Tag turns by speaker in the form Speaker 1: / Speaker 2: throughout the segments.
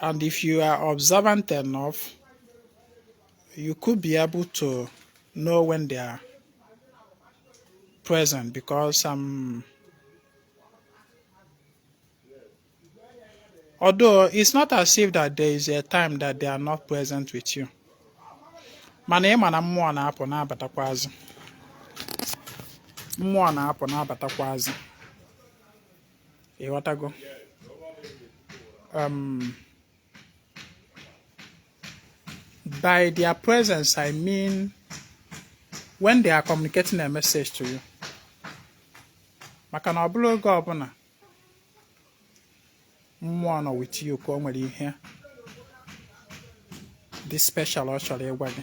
Speaker 1: And if you are observant enough, you could be able to know when they are present because um, although it's not as if that there is a time that they are not present with you mana ị ma na mmụọ na-apụ na-abatakwazị mmụọ na-apụ na-abatakwazị ịghọtago um, by their presence i mean when they are communicating a message to you maka na ọ bụrọ oge ọbụla mmụọ nọ with you ka o nwere ihe dị special ọ chọrọ ịgwa gị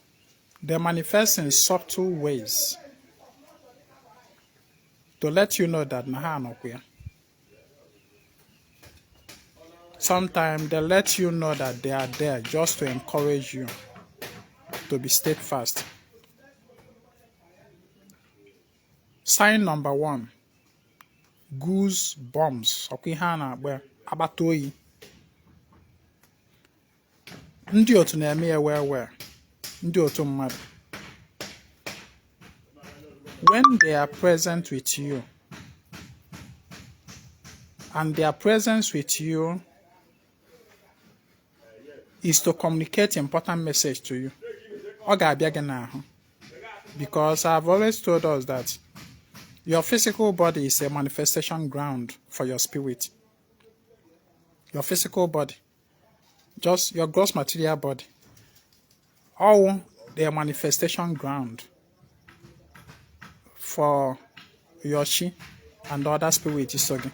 Speaker 1: They manifest in subtle ways to let you know that na ha anọkwa ya. Sometimes they let you know that they are there just to encourage you to be steadfast. Sign number one goose bombs ọkwa ihe a na-agba agbata oyi ndị otu na-eme ya well well ndị otu mmadụ when they are present with you and their presence with you is to communicate important message to you ọ ga-abịa gị n'ahụ because I've always told us that Your physical body is a manifestation ground for your spirit. Your physical body just your gross material body ọ wụ the manifestation ground for your chi and other spirit so gị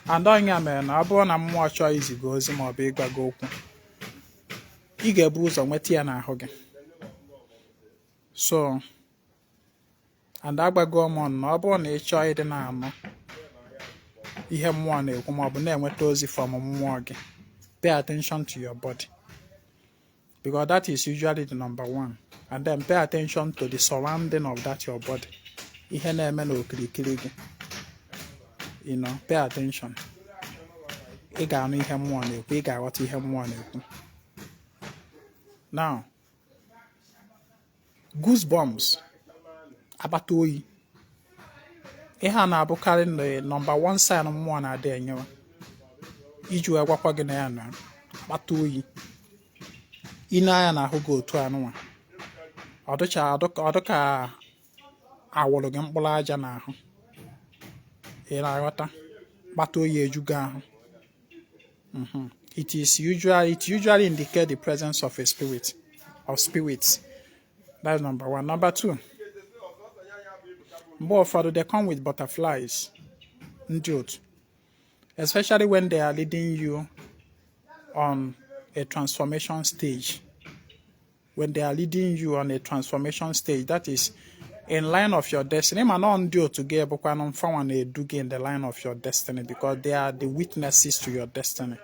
Speaker 1: and ọ ya mere na ọ bụrụ na mmụọ chọọ izi gị ozi ma ọ bụ ịgwa gị okwu ị ga-ebu ụzọ nweta ya n'ahụ gị so and agwago m unu na ọ bụrụ na ị chọọ ịdị na-anụ ihe mmụọ na-ekwu ma ọ bụ na-enweta ozi from mmụọ gị pay attention to your body because that is usually the number one and then pay attention to the surrounding of that your body ihe na-eme n'okirikiri gị you know pay attention ị ga-anụ ihe mmụọ na-ekwu ị ga-aghọta ihe mmụọ na-ekwu now goosebumps akpata oyi ihe a na-abụkarị nọmba 1 sign mmụọ na-adị enyewa iji wee gwakwa gị na ya nọ akpata oyi ị lee anya n'ahụ gị otu anụnwa ọ dịka a wụrụ gị mkpụrụ aja n'ahụ ị na-aghọta akpata oyi eju gị ahụ mhm. it is usually it usually indicate the presence of a spirit of spirits that's number one number two mgbe ụfọdụ they come with butterflies ndị otu especially when they are leading you on a transformation stage when they are leading you on a transformation stage that is in line of your destiny mana ọ ndị otu gị bụkwanụ mfanwa na-edu gị in the line of your destiny because they are the witnesses to your destiny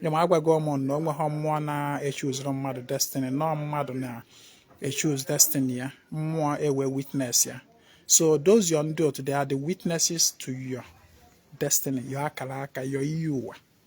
Speaker 1: ya ma agwago m ụnụ na o nweghị mmụọ na-echoosiri mmadụ destiny na ọ mmadụ na-echoose destiny ya mmụọ ewee witness ya so those your ndị otu they are the witnesses to your destiny your akara aka your iyi ụwa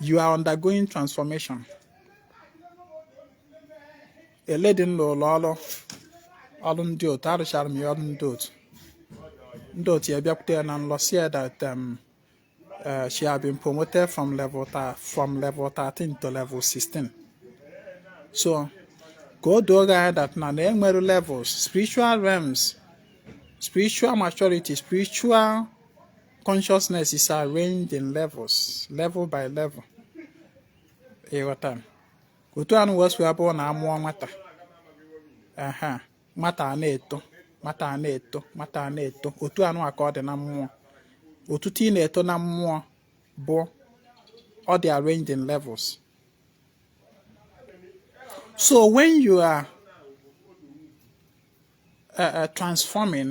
Speaker 1: you are undergoing transformation a lady m lụrụ ọrụ ọrụ ndị otu arụchara m ya ọrụ ndị otu ndị otu ya bịakwute ya na nlọ sị ya that um, uh, she had been promoted from level from level 13 to level 16 so ka o doo gị anya that na na e nwere levels spiritual realms spiritual maturity spiritual consciousness is arranged in levels level by level ị ghọta otu anụnwa o si abụ na a mụọ nwata ah nwata a na-eto nwata a na-eto nwata a na-eto otu anụnwa ka ọ dị na mmụọ otuto ị na-eto na mmụọ bụ ọ dị arranged in levels so when you are uh, uh, transforming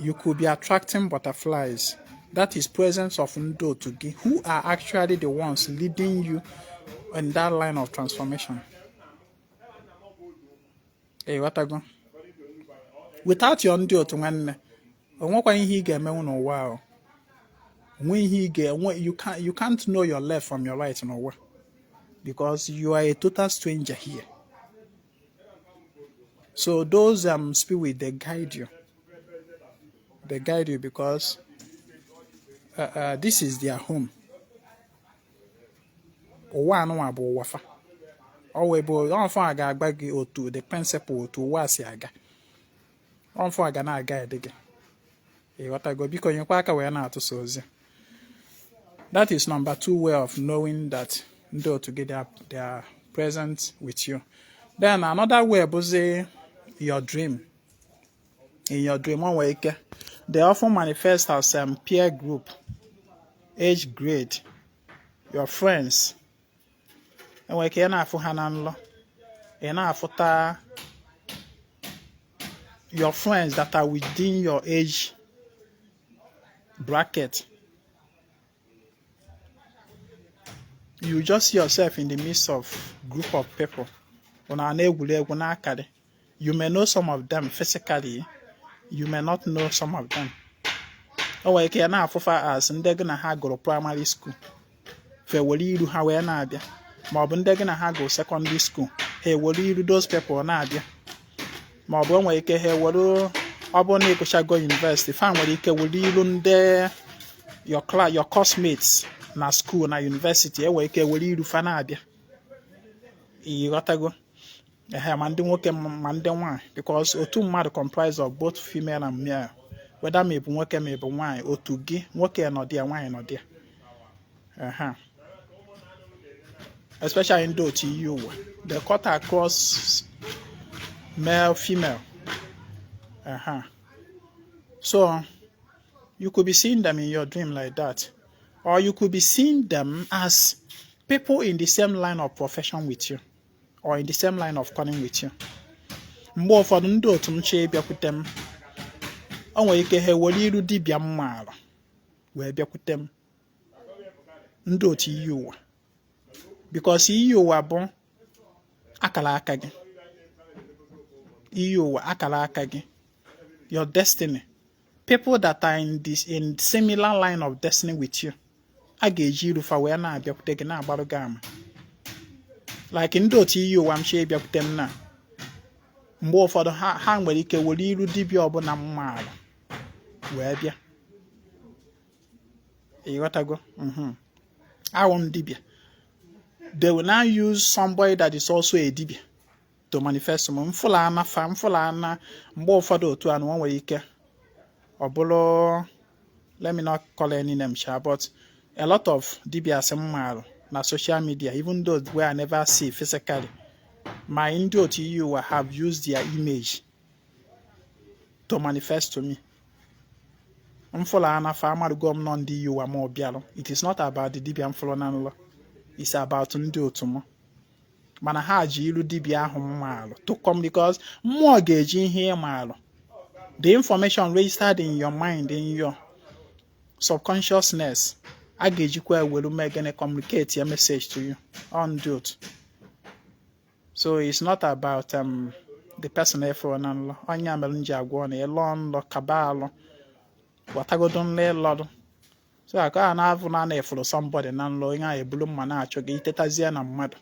Speaker 1: you could be attracting butterflies that is presence of ndị otu gị who are actually the ones leading you in that line of transformation ị ghọtago without your ndị otu nwanne o nwekwa ihe ị ga-emenwu n'ụwa ahụ o nwe ihe ị ga-enwe you can't know your left from your right n'ụwa because you are a total stranger here So those um spirit they guide you. They guide you because uh, uh, this is their home. Ụwa anụnwa bụ ụwa fa. Ọ wee bụ ọ fa ga-agwa gị otu the principle otu ụwa si aga. ọ mfa ga na-aguide gị ị ghọtago biko nyekwa aka wee na-atụsa ozi that is number two way of knowing that ndị otu gị they are present with you then another way bụzi your dream in your dream o nwere ike they often manifest as um, peer group age grade your friends e nwere ike ị na-afụ ha na nlọ ị na-afụta your friends that are within your age bracket you just see yourself in the midst of group of people ụnụ a na-egwuri egwu na-akọrị you may know some of them physically you may not know some of them o nwere ike ị na-afụ fa as ndị gị na ha gụrụ primary school fa ewere iru ha wee na-abịa ma ọ bụ ndị gị na ha gụrụ secondary school ha ewere iru those people na-abịa ma ọ bụ o nwere ike ha ewere ọ bụrụ na ị gụchago university fa nwere ike were iru ndị your class your classmates na school na university e nwere ike were iru fa na-abịa ị ghọtago ehe ma ndị nwoke ma ndị nwaanyị because otu mmadụ comprise of both female and male whether ma ị bụ nwoke ma ị bụ nwaanyị otu gị nwoke nọdị ya nwaanyị nọdị ya ehe especially ndị otu iyi ụwa they cut across male female ehe so you could be seeing them in your dream like that or you could be seeing them as people in the same line of profession with you or in the same line of calling with you mgbe ụfọdụ ndị otu m chọọ ịbịakwute m o nwere ike ha ewere iru dibịa m maara wee bịakwute m ndị otu iyi ụwa because iyi ụwa bụ akara aka gị iyi ụwa akara aka gị your destiny people that are in this in similar line of destiny with you a ga-eji iru fa wee na-abịakwute gị na-agbarụ gị ama like ndị otu iyi ụwa m chọọ ịbịakwute m na mgbe ụfọdụ ha nwere ike were iru dibịa ọ bụla m maara wee bịa ị ghọtago mhm. awụ m dibịa they will now use somebody that is also a dibịa to manifest m m fụla ana fa m fụla ana mgbe ụfọdụ otu a nụnwa nwere ike ọ bụrụ let me not call any name sha but a lot of dibias m maalụ na social media even those wey I never see physically my ndị otu iyi ụwa have used their image to manifest to me m fụlụ ana fa amarụgo m na ọ ndị iyi ụwa m ahụ bịalụ it is not about the dibia m fụlụ na nlọ it's about ndị otu m mana ha ji ilu dibịa ahụ m maalụ to come because mmụọ ga-eji ihe ị maalụ the information registered in your mind in your subconsciousness a ga-ejikwa ewelu mee gịnị communicate ya message to you on ndị otu so it's not about um, the person ị fụ na nlọ ọ ya mere m ji agwa unu na ị lọọ nlọ kaba alụ wọtagodu nlọ ị lọlụ so aka a na-avụ na na ị fụrụ somebody na nlọ onye ahụ ebulu mma na-achụ gị i tetazie na mmadụ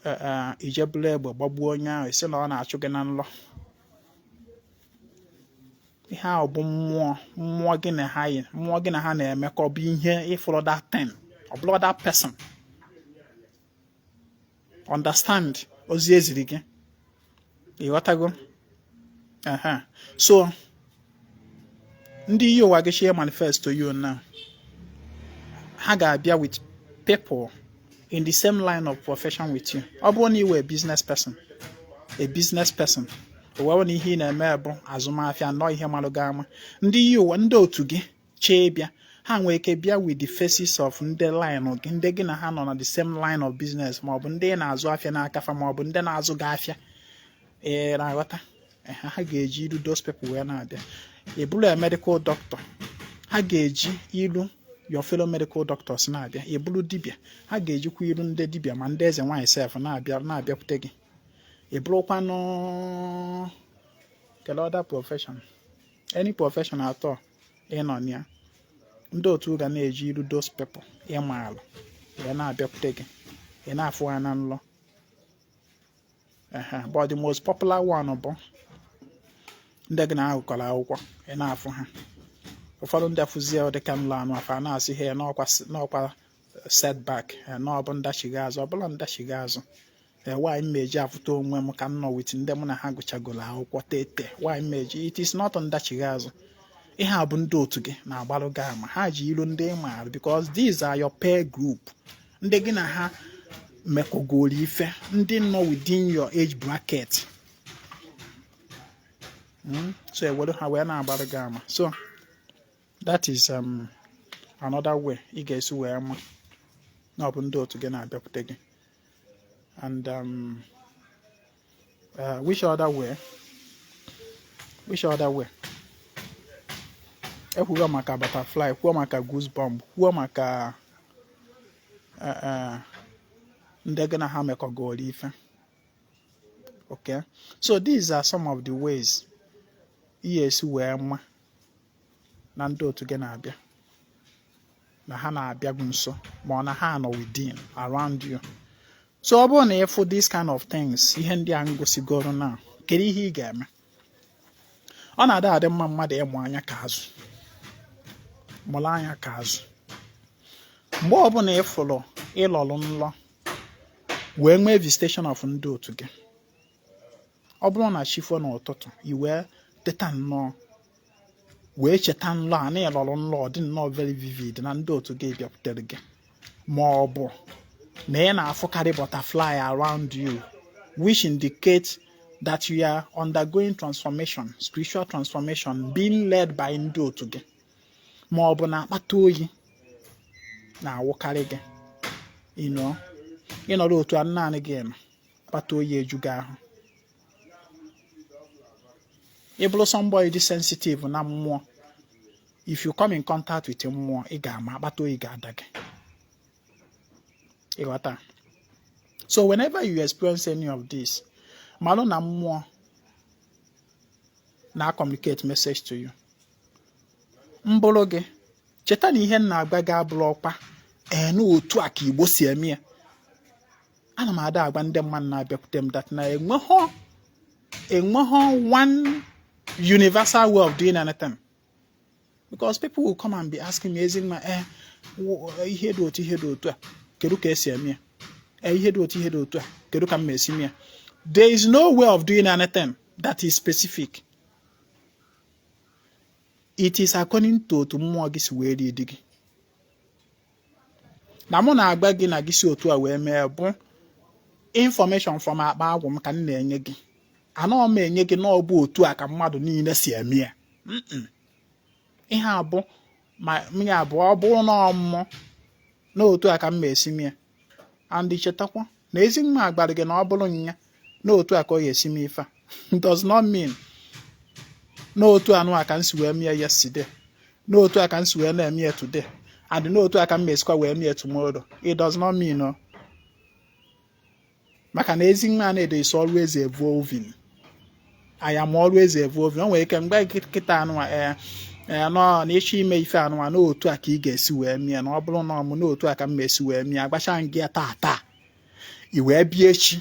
Speaker 1: e, e, i je buru egbe gbagbuo onye ahụ ị sị na ọ na-achụ gị na nlọ ihe ahụ bụ mmụọ mmụọ gị na ha yi mmụọ gị na ha na-emekọ bụ ihe ị fụrụ that thing ọ bụrọ that person understand ozi eziri gị ịghọtago aha so ndị iyi ụwa gị chee manifest to you now ha ga-abịa with people in the same line of profession with you ọ bụrụ na you are a business person a business person ọ wụ na ihe ị na-eme bụ azụmahịa nọ ihe malụ gị ama ndị iyi ụwa ndị otu gị chee bịa ha nwee ike bịa with the faces of ndị line gị ndị gị na ha nọ na the same line of business maọbụ ndị na-azụ afịa n'aka fa maọbụ ndị na-azụ gị afịa ị na-aghọta ha ga-eji ilu those people wee na-abịa ị bụlụ a medical doctor ha ga-eji ilu your fellow medical doctors na-abịa ị bụlụ dibịa ha ga-ejikwa ilu ndị dibịa ma ndị eze nwaanyị sef na-abịa na-abịakwute gị ị bụlụkwanụ kedu other profession any profession at all ị nọ na ya ndị otu ga na-eji iru those people ị maalụ wee na-abịakwute gị ị na-afụ ha na nlọ but the most popular one bụ ndị gị na ha gụkọrọ akwụkwọ ị na-afụ ha ụfọdụ ndị afụzie dịka nlọ anụwa a na-asị ha n'ọ kwa setback n'ọ bụ ndachigha azụ ọ bụrọ ndachigha azụ ee why m eji afụta onwe m ka m nọ with ndị mụ na ha gụchagoro akwụkwọ tete why m eji it is not ndachigha azụ ihe a bụ ndị otu gị na-agbalụ gị ama ha ji ilu ndị ị maara because these are your peer group ndị gị na ha mekọgoro ife ndị nọ within your age bracket hmm? so e were ha wee na-agbalụ gị ama so that is um, another way ị ga-esi wee ma na ọ bụ ndị otu gị na-abịakwute gị and um, uh, which other way which other way ekwugo maka butterfly kwuo maka goosebump kwuo maka uh, uh, ndị gị na ha mekọgoro ife okay so these are some of the ways ị ga-esi wee ma na ndị otu gị na-abịa na ha na-abịa gị nso ma ọ na ha nọ within around you so ọ bụrụ na ị fụ this kind of things ihe ndị a m gosigoro now kedu ihe ị ga-eme ọ na-adị adị mma mmadụ ịmụ anya ka azụ mụrụ anya ka azụ mgbe ọbụla ị fụrụ ị lọrụ nlọ wee nwee visitation of ndị otu gị ọ bụrụ na chi fo n'ụtụtụ i wee teta nnọọ wee cheta nlọ a na ị lọrọ nlọ dị nnọọ very vivid na ndị otu gị bịakwutere gị ma ọ bụ na ị na-afụkarị butterfly around you which indicates that you are undergoing transformation spiritual transformation being led by ndị otu gị ma ọ bụ na akpata oyi na-awụkarị gị ị nọrọ otu a naanị gị nọ akpata oyi eju gị ahụ ị bụrụ somebody dị sensitive na mmụọ if you come in contact with mmụọ ị ga-ama akpata oyi ga-ada gị ị ghọta so whenever you experience any of this malụ na mmụọ na-communicate message to you mbụrụ gị cheta na ihe m na-agwa gị abụrọkwa ee na otu a ka Igbo si eme ya ana m ada agwa ndị mmadụ na-abịakwute m that na enweghọ enweghọ one universal way of doing anything because people will come and be asking me ezi nwa eh, eh ihe dị otu ihe dị otu a kedu ka e si eme ya eh, ihe dị otu ihe dị otu a kedu ka m ma esi mee ya there is no way of doing anything that is specific it is according to otu mmụọ gị si wee dị gị na mụ na-agwa gị na gị si otu a wee mee bụ information from akpa agwụ m ka m na-enye gị anọ m enye gị na ọ bụ otu a ka mmadụ niile si eme ya ihe abụ ma ya bụ ọ bụrụ na ọ mụ na otu a ka m ma esi mee ya and chetakwa na ezi nwa gwalụ gị na ọ bụrụ nya na otu a ka ọ ya esi me ife a does not mean na otu anụ a ka m si wee mee ya yesterday na otu a ka m si wee na-eme ya today and na otu a ka m ma esikwa wee mee ya tomorrow it does not mean no maka na ezi nwa na-edo is always evolving I am always evolving o nwere ike m gwa gị kịta anụnwa ee ee nọ na ị chọọ ime ife anụnwa na otu a ka ị ga-esi wee mee ya na ọ bụrụ na ọ mụ na otu a ka m esi wee mee ya agwacha m gị taa taa i wee bịa echi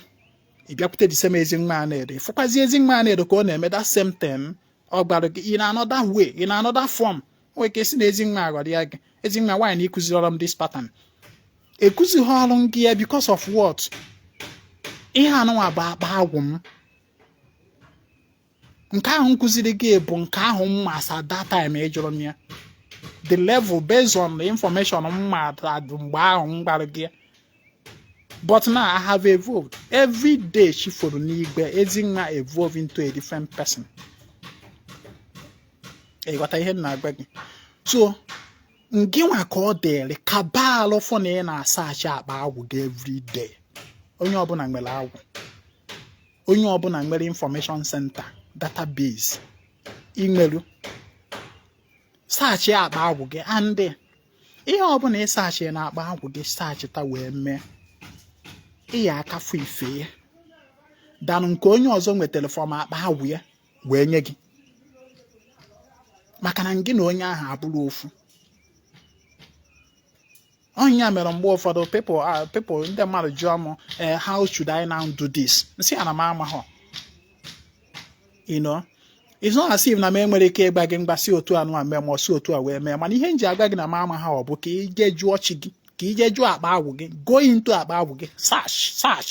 Speaker 1: ị bịakwute the same ezi nwa na-edo ị fụkwazi ezi nwa na-edo ka ọ na-eme that same thing ọ gwara gị in another way in another form nwere ike sị na ezi nwa aghọrọ ya gị ezi nwa why na ị kuzirirọ m this pattern ekuzirọ gị ya because of what ihe anụnwa bụ akpa agwụ m nke ahụ m kụziri gị bụ nke ahụ m ma as at that time ị jụrụ m ya the level based on the information m ma mgbe ahụ m gwara gị ya but now I have evolved every day chi foro n'igwe ezi nwa evolve into a different person ị ghọta ihe m na-agwa gị so ngịnwa ka ọ dịrị ka gbaalụ fụ na ị na-asearch akpa agwụ gị everyday onye ọbụla nwere agwụ onye ọbụla nwere information center database imeru search akpa agwụ gị and ihe ọbụla ị search na akpa agwụ gị searchịta wee mee ị ya-aka afụ ife ya than nke onye ọzọ nwetara from akpa agwụ ya wee nye gị maka na gị na onye ahụ abụrọ ofu ọ ya mere mgbe ụfọdụ people ah, people ndị mmadụ jụọ m eh, how should I now do this m sị ha na m amaghọ you know it's not as if na m enwerọ ike ịgba gị ngwa si otu anụwa mee ma ọ si otu a wee mee mana ihe m ji agwa gị na m amaghọ bụ ka ị jee jụọ chi gị ka ị jee jụọ akpa agwụ gị go into akpa agwụ gị search search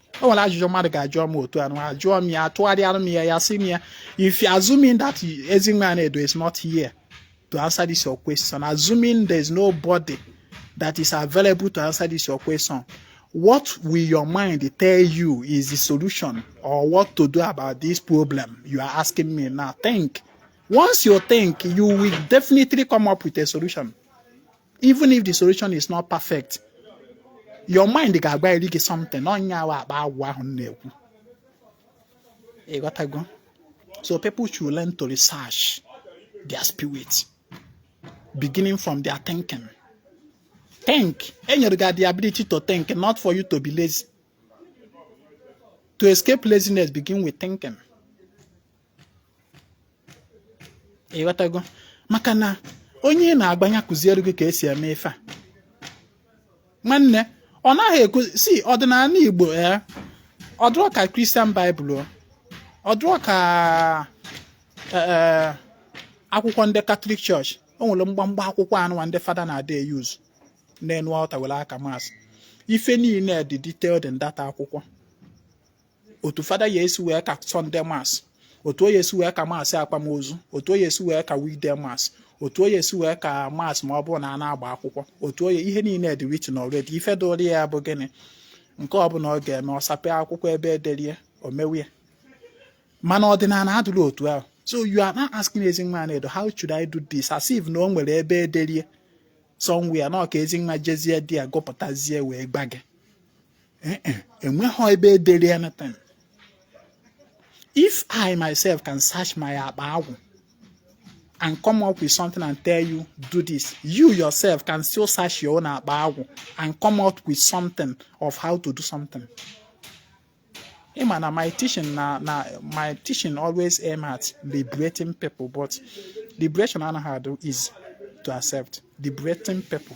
Speaker 1: o nwere ajụjụ mmadụ ga-ajụọ m otu anụ ajụọ m ya atụgharịara m ya ya sị m ya if you assuming that Ezinwa Anedo is not here to answer this your question assuming there is nobody that is available to answer this your question what will your mind tell you is the solution or what to do about this problem you are asking me now think once you think you will definitely come up with a solution even if the solution is not perfect your mind ga-agwariri gị something ọ ya wụ akpa agwụ ahụ na-ekwu ịghọtago so people should learn to research their spirit beginning from their thinking think e nyere gị the ability to think not for you to be lazy to escape laziness begin with thinking ịghọtago maka na onye ị na-agba nya kuziere gị ka esi eme ife a nwanne ọ naghị ekwu si ọdịnala igbo ya eh, ọ dụrọ ka christian bible ọ dụrọ ka eh, eh, akwụkwọ ndị catholic church o nwere mgbamgba akwụkwọ anụwa ndị fada na-adị euse n'enu altar were aka mass ife niile dị detailed in that akwụkwọ otu fada ya esi wee ka sunday mass otu o ya esi wee ka mass akwamozu otu o ya esi wee ka weekday mass otu o ya esi wee ka mass ma ọ bụrụ na a na-agba akwụkwọ otu o ya ihe niile dị written already ife dụrụ ya bụ gịnị nke ọbụla ọ ga-eme ọ sapee akwụkwọ ebe e derie o mewe ya mana ọdịnala adụrọ otu ahụ so you are not asking ezinwa na-edo how should I do this as if na o nwere ebe e derie somewhere na ọ ka ezinwa jezie there gụpụtazie wee gba gị eh, eh, enweghị ebe edere ya natan if i myself can search my akpa agwụ and come up with something and tell you do this you yourself can still search your own akpa agwụ and come up with something of how to do something ịma na my teaching na na my teaching always aim at liberating people but liberation anaghị adụ is to accept liberating people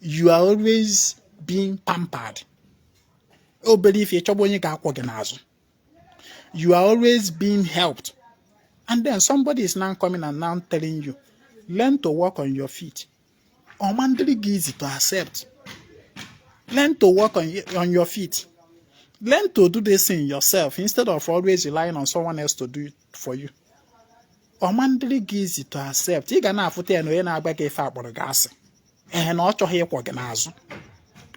Speaker 1: you are always being pampered obere ife ịchọgbu onye ga-akwọ gị n'azụ you are always being helped and then somebody is now coming and now telling you learn to walk on your feet ọma ndịrị gị easy to accept learn to walk on, on your feet learn to do this thing yourself instead of always relying on someone else to do it for you ọ ma adịrị gị easy to accept ị ga na-afụta ya na onye na-agba gị ife a kpọrọ gị asị ee na ọ chọghị ịkwọ gị n'azụ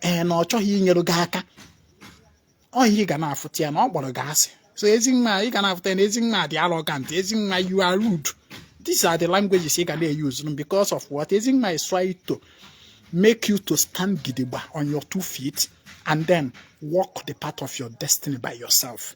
Speaker 1: ee na ọ chọghị inyere gị aka ọ ihe ị ga na-afụta ya na ọ kpọrọ gị asị so ezinwa ị ga na-afụta ya na ezinwa dị arrogant ezinwa you are rude these are the languages ị ga na-euse because of what ezinwa is trying to make you to stand gidigba on your two feet and then walk the path of your destiny by yourself.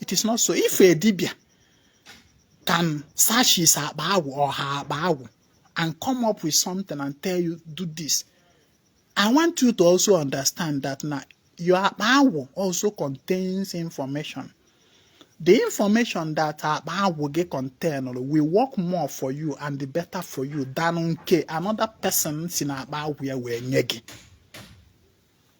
Speaker 1: it is not so if a dibia can search his akpa agwụ or her akpa agwụ and come up with something and tell you do this i want you to also understand that na your akpa agwụ also contains information the information that akpa agwụ gị contain will work more for you and the better for you than nke another person si na akpa agwụ ya wee nye gị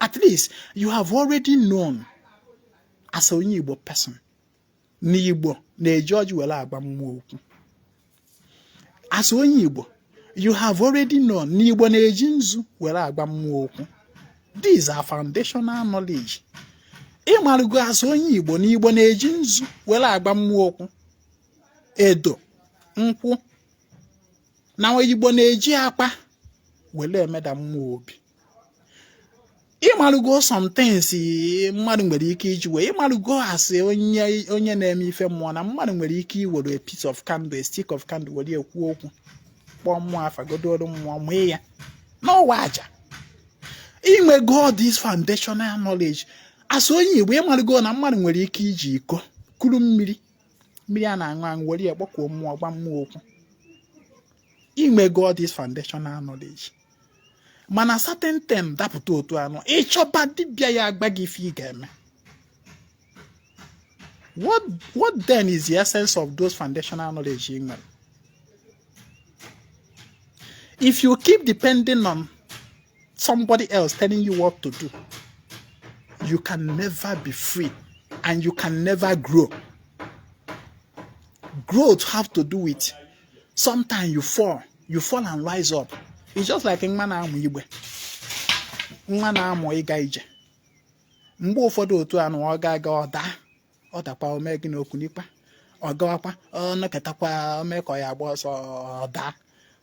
Speaker 1: at least you have already known as onye Igbo person na Igbo na-eji ọjị were agba mmụọ okwu as onye Igbo you have already known na Igbo na-eji nzu were agba mmụọ okwu these are foundational knowledge ị marụgo as onye Igbo na Igbo na-eji nzu were agba mmụọ okwu edo nkwụ na Igbo na-eji akwa were emeda mmụọ obi ị marụgo some things mmadụ nwere ike iji wee ị marụgo as onye na-eme ife mmụọ na mmadụ nwere ike iwere a piece of candle a stick of candle were ekwu okwu kpọọ mmụọ afa godoru mmụọ mee ya n'ọwa aja i nwego this foundational knowledge as onye Igbo ị marụgo na mmadụ nwere ike iji iko kuru mmiri mmiri a na-aṅụ aṅụ were ya kpọkuo mmụọ gwa mmụọ okwu i nwego this foundational knowledge mana certain thing dapụta otu anụ ị chọba dibịa ya agba gị ife ị ga-eme what what then is the essence of those foundational knowledge ị nwere if you keep depending on somebody else telling you what to do you can never be free and you can never grow growth have to do with sometimes you fall and rise up it's just like nwa na-amụ igbe nwa na-amụ ịga ije mgbe ụfọdụ otu anụ ọ ga-aga ọ daa ọ dakwa o mee gịnị o kunikwa ọ gawakwa ọ nọketakwa o mee ka ọ ya-agba ọsọ ọ daa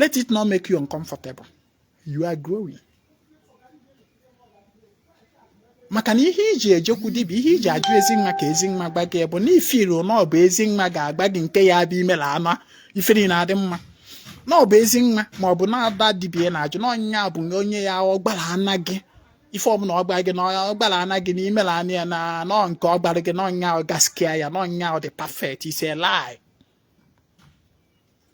Speaker 1: let it not make you uncomfortable you are growing maka na ihe i ji ejekwu dibịa ihe i ji ajụ Ezinwa ka Ezinwa gba gị bụ na ifiri na ọ bụ Ezinwa ga-agba gị nke ya bụ i mela anụ ifiri na-adị mma na ọ bụ Ezinwa ma ọ bụ na ada dibịa na-ajụ na onye nya bụ onye ya ọ gbara ana gị ife ọbụla ọ gbara gị na ọ gbara ana gị na i mela anụ ya na nọ nke ọ gbara gị na onye nya ọ gaskia ya na onye nya ọ dị perfect it's a lie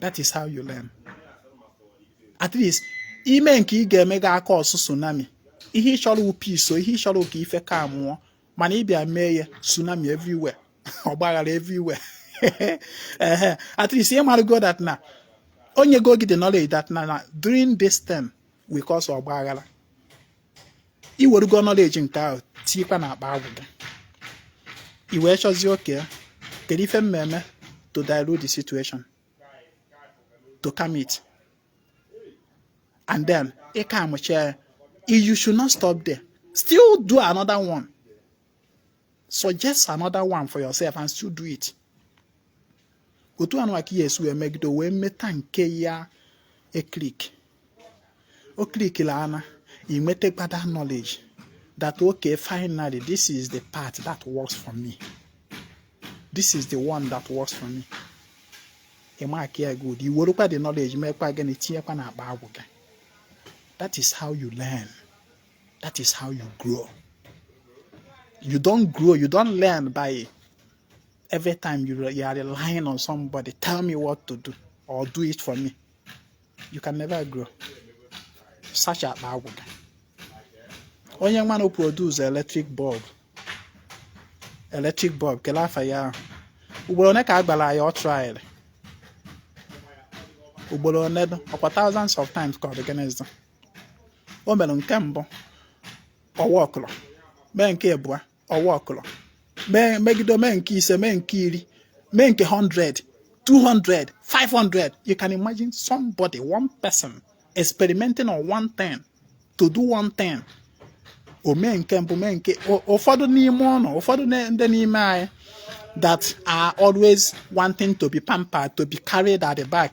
Speaker 1: that is how you learn at least i mee nke ị ga-eme gị a-cause tsunami ihe ị chọrọ wụ peace ihe ị chọrọ ka ife calmụọ mana ị bịa mee ya tsunami everywhere ọgbaghara everywhere ehe at least ị marago that na o nyego gị the knowledge that na doing this thing will cause ọgbaghara i werugo knowledge nke ahụ tinyekwa na akpa agwụ gị i wee chọzie okay kedu ife m ma-eme to dilute the situation to calm it and then ị calmụchaa ya you should not stop there still do another one suggest another one for yourself and still do it otu anụ ka ị ya-esi wee megide wee meta nke ya-eclick o clickila ana i nwetakwa that knowledge that okay finally this is the part that works for me this is the one that works for me ị markịa ya good i werukwa the knowledge meekwa gịnị tinyekwa na akpa agwụ gị that is how you learn that is how you grow you don't grow you don't learn by every time you, you are relying on somebody tell me what to do or do it for me you can never grow such akpa agwụ onye nwa na produce electric bulb electric bulb kelee afa ya ahụ ugboro one ka a gbara ya ọ trial ugboro one ọkwa thousands of times ka ọ dị o mere nke mbụ ọ workụrọ mee nke abụọ ọ workụrọ mee megide mee nke ise mee nke iri mee nke 100 200 500 you can imagine somebody one person experimenting on one thing to do one thing o mee nke mbụ mee nke ụfọdụ n'ime ụnụ ụfọdụ ndị n'ime anyị that are always wanting to be pampered to be carried at the back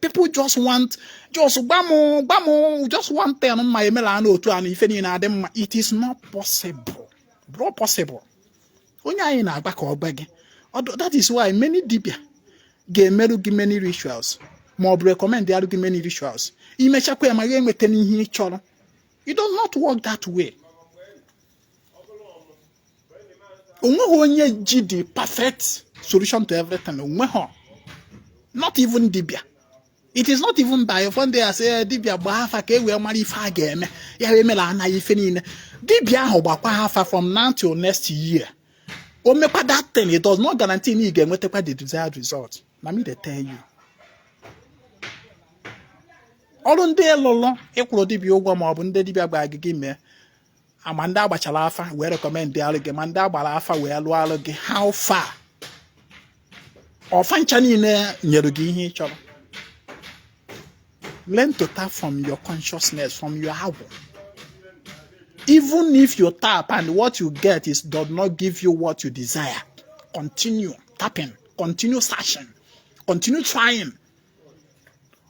Speaker 1: people just want just gbamụ gbamụ just one thing m ma-emela anụ otu anụ ife niile adị mma it is not possible ọ bụrọ possible onye anyị na-agba ka ọ gba gị that is why many dibia ga-emerụ gị many rituals ma ọ bụ recommendarụ gị many rituals i mechakwa ya ma ya enweta n'ihe ị chọrọ it does not work that way onweghị onye ji the perfect solution to everything onweghị not even dibia it is not even by fon dey asị eh, dibia gbaa afa ka e wee mara ife a ga-eme ya wee mere anaghị ife niile dibia ahụ gbakwaa afa from now till next year o mekwa that thing it does not guarantee na ị ga-enwetakwa the desired result na me dey tell you ọrụ ndị ị lụrụ ị kwụrụ dibia ụgwọ ma ọ bụ ndị dibia gwara gị gị mee ma ndị a gbachara afa wee recommendịalụ gị ma ndị a gbara afa wee lụọalụ gị how far ọ fa ncha niile nyere gị ihe ị chọrọ learn to tap from your consciousness from your agwụ even if you tap and what you get is does not give you what you desire continue tapping continue searching continue trying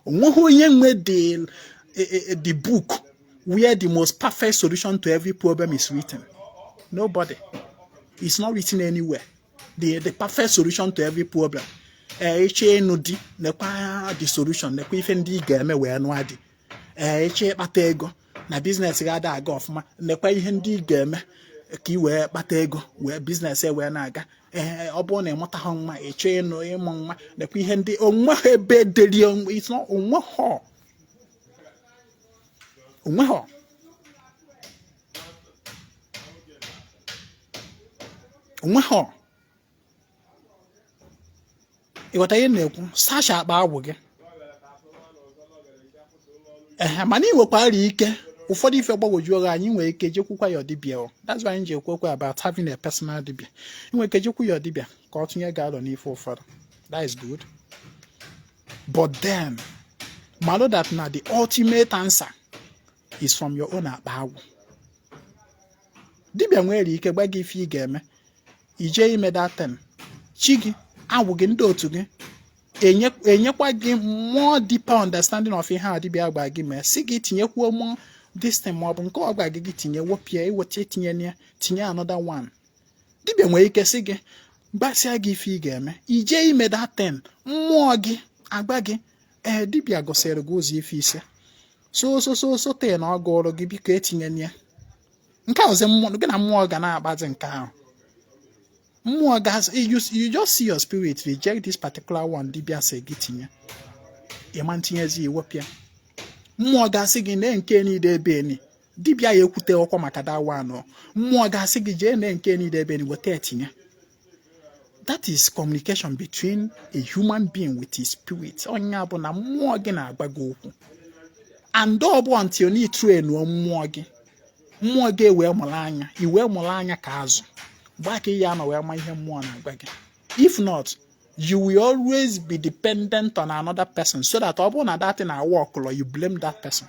Speaker 1: onweghị onye nwe the e, e, e, the book where the most perfect solution to every problem is written nobody it's not written anywhere the the perfect solution to every problem ee ị chọọ ịnụ di nekwa the solution nekwa ife ndị ị ga-eme wee nụọ di ee ị chọọ ịkpata ego na business gị ada aga ọfụma nekwa ihe ndị ị ga-eme ka ị wee kpata ego wee business e wee na-aga ee ọ bụrụ na ị mụtaha nwa ị chọọ ịnụ ịmụ nwa nekwa ihe ndị onweha ebe e deri onweha onweha onweha ị ghọta ihe m na-ekwu sacha akpa agwụ gị ee mana ị nwekwara ike ụfọdụ ife gbagwojuo gị anya ị nwere ike jekwukwa ya dibịa o that's why anyị ji ekwu okwu about having a personal dibịa ị nwere ike jekwu ya dibịa ka ọ tụnye gị alọ n'ife ụfọdụ that is good but then malo that na the ultimate answer is from your own akpa agwụ dibịa nwere ike gwa gị ife ị ga-eme i je ime that thing chi gị agwụ gị ndị otu gị enyekwa gị more deeper understanding of ihe a dibịa gwa gị mee sị gị tinyekwuo more this thing ma ọ bụ nke ọ gwa gị gị tinye wepụ ya i weta etinye ya tinye another one dibịa nwere ike sị gị gwasịa gị ife ị ga-eme i je ime that thing mmụọ gị agwa gị ee eh, dibịa gosiri gị ụzọ ife ise so so so so thing ọ gụrụ gị biko etinyena nke a ọzọ mmụọ gị na mmụọ ga na-agbazi nke ahụ mmụọ ga you just see your spirit reject this particular one dibịa sị gị tinye ị ma etinyezi i wepụ ya mmụọ gị asị gị na nke niile ebe eni dibịa ya ekwute okwu maka that one mmụọ gị asị gị jee na nke niile ebe eni weta etinye that is communication between a human being with his spirit ọ nya bụ na mmụọ gị na-agwa gị okwu and ọ bụ until na ị trainuo mmụọ gị mmụọ gị ewee mụrụ anya i wee mụrụ anya ka azụ gbaa ka ihe anọ wee ma ihe mmụọ na-agwa gị if not you will always be dependent on another person so that ọ bụrụ na that thing aworkụlọ you blame that person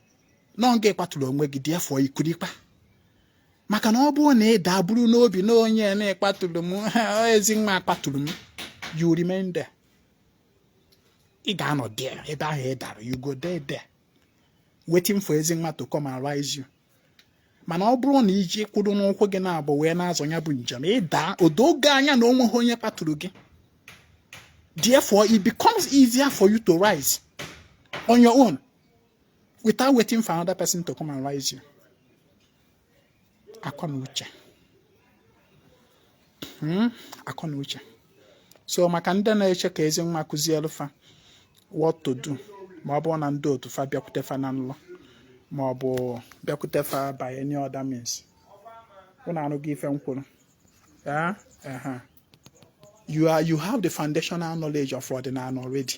Speaker 1: na ọ gị kpatụrụ onwe gị therefore ikurikpa maka na ọ bụrụ na ị daa buru n'obi na onye na kpatụrụ m Ezinwa kpatụrụ m you remain there ị ga-anọ there ebe ahụ ị dara you go dey there waiting for Ezinwa to come and rise you mana ọ bụrụ na i ji kwụrụ n'ụkwụ gị naabọ wee na-azọ ya bụ njem ị daa o doo gị anya na onweghị onye kpatụrụ gị therefore it becomes easier for you to rise on your own without waiting for another person to come and rise you akọ na uche hmm? akọ na uche so maka ndị na-eche ka Ezinwa kụzielụ fa what to do ma ọ bụ na ndị otu fa bịakwute fa na nlọ ma ọ bụ bịakwute fa by any other means ụnụ anụghị ife m kwuru ah, you are you have the foundational knowledge of ọdịnala already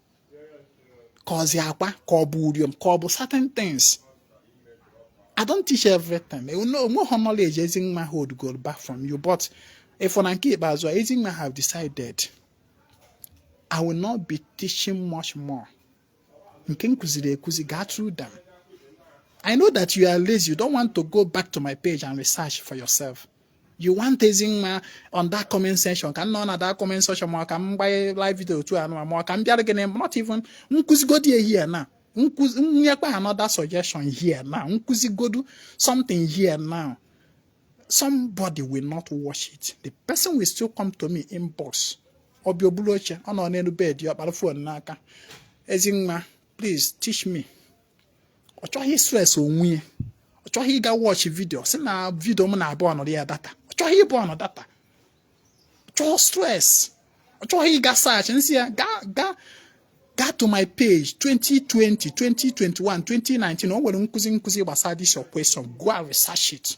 Speaker 1: ka ọzi akwa ka ọ bụ uriom ka ọ bụ certain things I don't teach everything o nweghị knowledge Ezinwa holdugo back from you but ị fụ na nke ikpeazụ a Ezinwa have decided I will not be teaching much more nke m kụziri ekụzi gaa through them I know that you are lazy you don't want to go back to my page and research for yourself you want Ezinwa on that comment section ka m nọ na that comment section ma ka m gbanye live video otu anụ ma ka m bịara gị na not even m kụzigodu ihe here now nyekwa another suggestion here now m kụzigodu something here now somebody will not watch it the person will still come to me inbox ọ bịa o bulu oche ọ nọ n'elu bed ya ọ kpara phone n'aka Ezinwa please teach me ọ chọghị ịstress onwe ya ọ chọghị ịga watch video sị na video m na-aburnụrụ ya data ọ chọghị ịburnụ data ọ chọghị stress ọ chọghị ịga search m sị ya gaa to my page 2020 2021 2019 o nwere nkụzi m kụzi gbasara this your question go and research it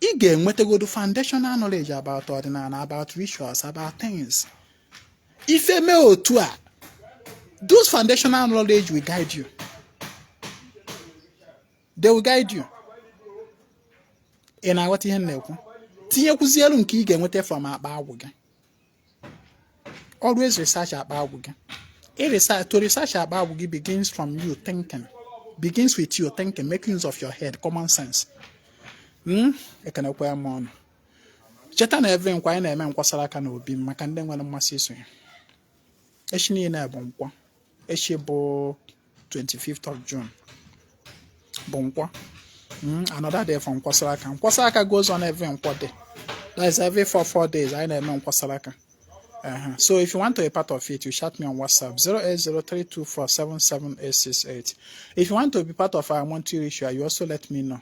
Speaker 1: ị ga-enwetagodu foundational knowledge about ọdịnala about rituals about things if i mee otu a those foundational knowledge will guide you they will guide you ị na-aghọta ihe m na-ekwu tinyekwuzielu nke ị ga-enweta from akpa agwụ gị always research akpa agwụ gị to research akpa agwụ gị begins from you thinking begins with you thinking making use of your head common sense hmm? ekenekwa m ụnụ cheta na every nkwọ anyị na-eme nkwasara aka na obi maka ndị nwere mmasị iso ya echi niile bụ nkwọ echi bụ 25th of June bụ nkwọ hmm, another day for nkwasara aka nkwasara aka goes on every nkwọ day that is every four four days anyị na-eme nkwasara aka Uh-huh. So if you want to be part of it, you chat me on WhatsApp 08032477868. If you want to be part of our monthly ritual, you also let me know.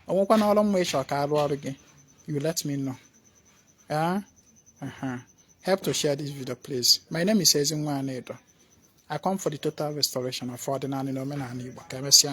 Speaker 1: o nwekwanụ ọrụ mma ị chọ ka a rụọrọ gị you let me know yeah? uh -huh. help to share this video please my name is Ezinwa Anedo I come for the total restoration of ọdịnala na omenala Igbo ka emesịa